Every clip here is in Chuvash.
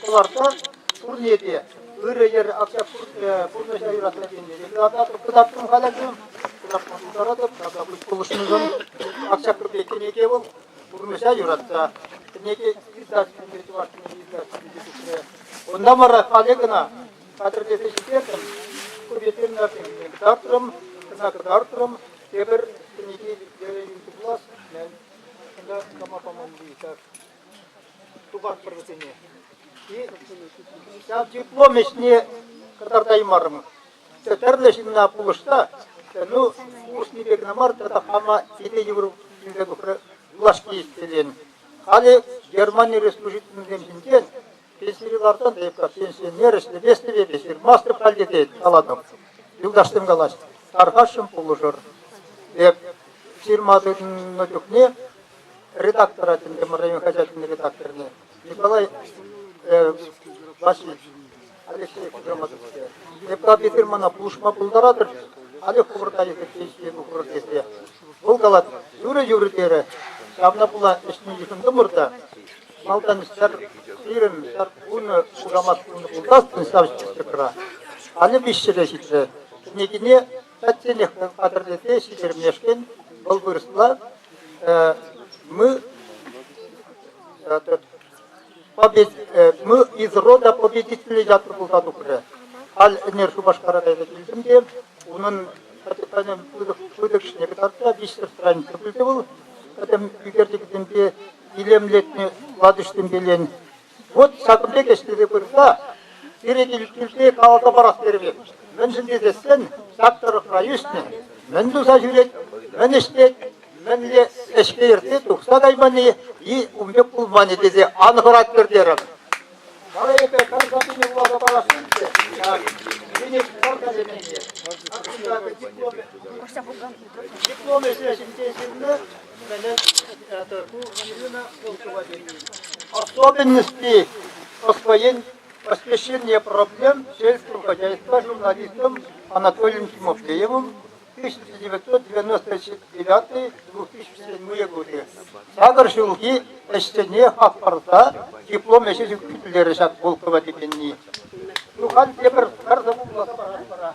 Кӑларса пурне те ырӑ йӗр акса пурнӑҫа юратса тенӗ пек тататӑп, кӑтартрӑм халӗсем. Кӑтартма пултаратӑп, таса пуҫ пулӑшнӑшӑн. Акҫаккипе кӗнеке вӑл пурнӑҫа юратса. Кӗнеке издательство чӑвашсенче издательство пичетре. Унта вара халӗ кӑна хатӗрлесе ҫитертӗм. Ку ветеринарсем ҫине кӑтартрӑм, кӑна кӑтартрӑм. Тепӗр кӗнеке вӗренӳ туплас, мӗн. Кунта кама памалли ҫак Тухатпӑр вӗсене. Ҫав диплом ӗҫне кӑтартаймарӑмӑр. Тӗ тӗрлӗ ҫынна пулӑшса, ну, пулӑшнипе кӑна мар, тата хама ҫине йывӑр килсе тухрӗ влаҫки исцелен. Халӗ Германи республикинчен ҫинчен пенсире ларсан эп пенсионер ӗҫлеместӗп, эпӗ ҫырмастӑп халӗ тет, калатӑп. Юлташсем калаҫ, тархасшӑн пулӑшӑр. Эп ҫырма тытӑннӑ чухне редактора Тӗнтемӗр район хаҫатӗн редакторне Николай Васильевич Алексеев Граматовиче. Депутат эсир мана пулӑшма пултаратӑр-ши? Халӗ хӑвӑрта эсир ӗҫлеме пулӑр тесе. Вӑл калать, юрӗ, юрӗ терӗ. Ҫавна пула ӗҫне йышӑнтӑмӑр та малтан ҫӗр ҫирӗм, ҫӗр вунӑ хушамат хунӑ пулсассӑн ҫав списокра. Халӗ виҫҫӗре ҫитрӗ. Кӗнекине Пӗчченех вӑл хатӗрлесе ҫитермешкӗн вӑл вырӑсла «мы мы из рода победителей» ятлӑ пулса тухрӗ. Халь ӗнер Шупашкара кайса килтӗм те унӑн капитанӗ пытӑкҫине кӑтартса виҫсӗртран тепӗлте вӑл пӗтӗм ӳкерчӗкӗсемпе илемлетнӗ латӑҫсемпелен Вӑт ҫакӑн пек ӗҫлесе пырса пире килӗшӳсне каласа парас терӗпех. Мӗншӗн тесессӗн ҫак тӑрӑхра ӳснӗ мӗн туса ҫӳрет, мӗн ӗҫлет, мӗнле ӗҫпе иртсе тухса кайманни ун пек пулманӗ тесе ан хӑрат тертерӗм. Вара эпӗ пӗр сапине вуласа парасшӑн те ҫак кӗнек паркасене. Диплом ӗҫе ҫинчен ҫырнӑ Особенности освоения освещения проблем сельского хозяйства журналистом Анатолием Тимофеевым 1999-2007 годы сакӑр ҫулхи ӗҫсене хак парса диплом ӗҫӗсем хӳтӗлерӗ ҫак Волкова текенни. Тухан тепӗр пӗр сӑвӑ вуласа паратпӑр.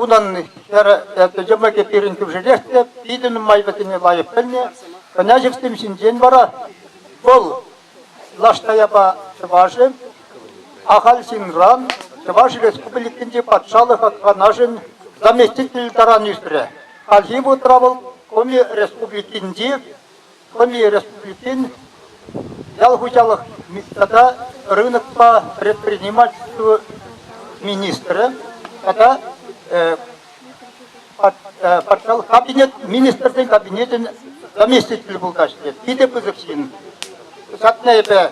Унӑн хӗр йӑмӑкӗ пирӗн кӳршӗрех те питӗ нумай вӗсене лайӑх пӗлнӗ. Княҫӑксем ҫинчен вара вӑл Лаштаяпа чӑвашӗ, ахаль ҫынран Чӑваш Республикинчи Патшалӑх Канашӗн заместитель таран ӳсрӗ. Хальхи вутра вӑл Коми Республикинчи Хӑни республикин ял хуҫалӑх тата рынокпа предпринимательство министрӗ тата патшалӑх кабинет министрсен кабинечӗн заместителӗ пулкаҫҫӗ. Питӗ пысӑк ҫын. Ҫакна эпӗ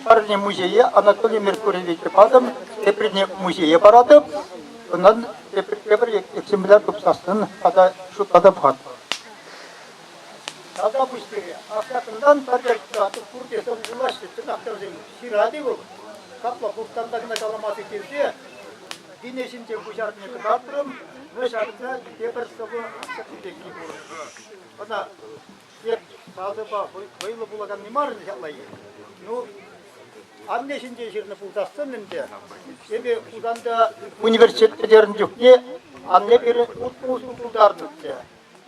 парне музее Анатолий Меркурьевиче патӑм, теприне музее паратӑп. Унтан тепӗр экземпляр тупсассӑн тата шутлатӑп-ха. Апла пуҫ пире. Аҫакӑнтан пӗртӗк тратӑк пурте тӑрӑшулаҫҫӗ чӑтахтӑрсем. Ҫырать-и вӑл? Капла хурттанта кӑна каламасӑр хирте вине ҫинче куҫарнине кӑтартрӑм. Вӑл ҫакӑнта тепӗр сӑвӑ астӑртнӑ пекки пур. Ӑна эп сасӑпа вӑйлӑ вулаканни мар ӗнтӗ ҫапла и? Ну, анне ҫинчен ҫырнӑ пулсассӑн ӗнтӗ, эпӗ Хусанта университет пӗтернӗ чухне анне пирӗн утпуҫ пултарнӑччӗ.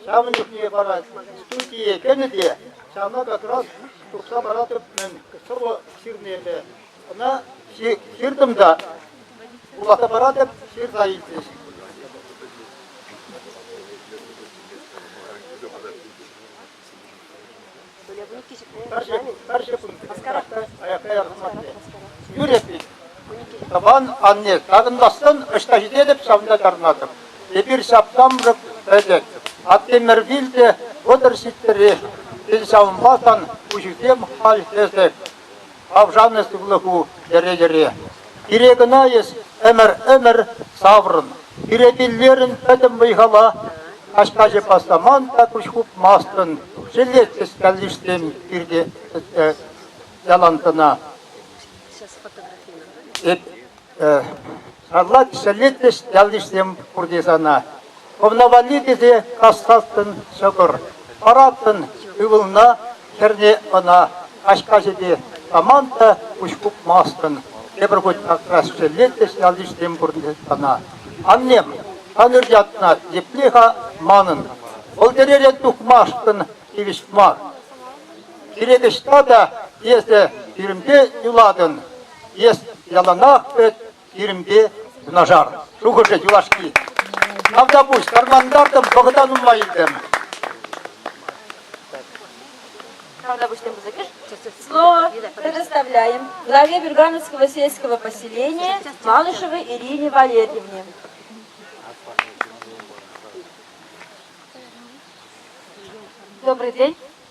Ҫавӑн чухне вара студие кӗнӗ те ҫавна как раз тухса паратӑп-мӗн сӑвӑ ҫырнипе. Ӑна ҫыртӑм та вуласа паратӑп, ҫырса илчӗҫ. Пӗрчӗ пускарах та, аяк каяр хӑсматне. Юрӗ пит. Тӑван анне, такӑнмастӑн ӑҫта ҫитетӗп, ҫавӑнта чарӑнатӑп. Эпир ҫап-ҫамрӑк пӗтӗк. Аттемӗрвил те вӑтӑр ҫиттӗрех. Тен, ҫавӑнпа сан куҫусем халь хӗсӗк. Авшаннӑ сывлӑху йӗре-йӗре. Пире кӑна эс ӗмӗр-ӗмӗр саврӑн. Пире пиллерӗн пӗтӗм вӑй-хала. Каҫ-каҫӑ пасламан та куҫ хупмастӑн. Шеллет хӗскаллишсем пирте ялан кӑна. Эп Алла ҫӗлетмӗш ялйышсем пурте сана. Хӑвна валли тесе кассаттӑн ҫӑкӑр, параттӑн ывӑлна, хӗрне ӑна. Каҫ-каҫӗпе таман та куҫ хупмастӑн. Тепӗр хут акрас ҫӗлетмӗш ялйышсем пурте сана. Аннем, Танюр ятна епле-ха манӑн? Вӑл тӗререн тухмашкӑн тивӗҫ мар. Кирек ӑҫта та эсӗ пирӗнпе юлатӑн, Эс яланах эт пирӗнпе юнашар. Шухӑшӗ юлашки. Тавтапуҫ, кармантартӑм, вӑхӑта нумаййисем. Правда, пуҫтем пысӑкиш? Слово предоставляем главе Бюргановского сельского поселения Малышевой Ирине Валерьевне. Добрый день.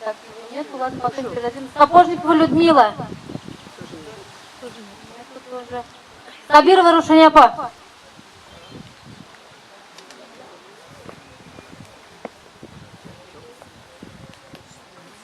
Кабинет вулатма собирателем. Сапожникова Людмила. Тут уже. Сабирова Рушаня апа.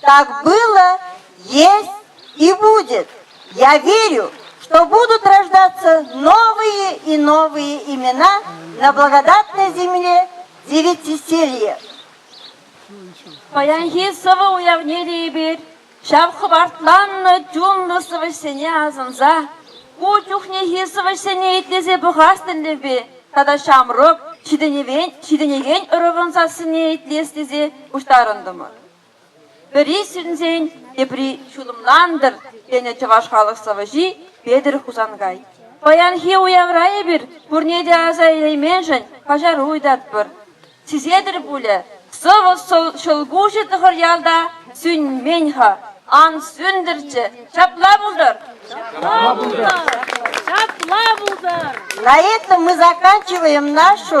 Так было, есть и будет. Я верю, что будут рождаться новые и новые имена на благодатной земле девятиселье. Паянхи сывӑ уявнери эпир, ҫав хӑпартланнӑ чунлӑ сӑвӑҫсене асӑнса, ку чухнехи сӑвӑҫсене итлесе пӑхас тӗллевпе тата ҫамрӑк, ҫитӗнекен ӑрӑвӑн сассине итлес тесе пуҫтарӑнтӑмӑр. Пӗри сӳнсен, тепри ҫулӑмлантӑр, тенӗ чӑваш халӑх сӑвӑҫи Петӗр Хусанкай. Паянхи уявра эпир пурне те аса илейменшӗн каҫару ыйтатпӑр. Сисетӗр пулӗ, сӑвӑ ҫӑлкуҫӗ тӑхӑр ялта сӳнмен-ха. Ан сӳнтӗрччӗ, ҫапла пултӑр. Ҫапла пултӑр. Ҫапла пултӑр. На этом мы заканчиваем нашу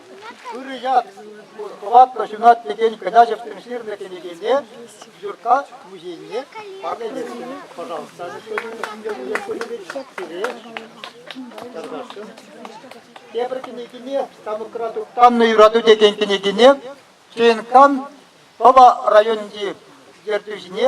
Ырӑ ят хӑватлӑ ҫунат текен княҫевсем ҫырнӑ кӗнекене Юркка музейне парнелесшӗн. Пожалуйста, сире чармашкӑн. Тепӗр кӗнекене Станокра туптаннӑ юрату текен кӗнекене ЧНКан Пӑва районӗнчи ертӳҫине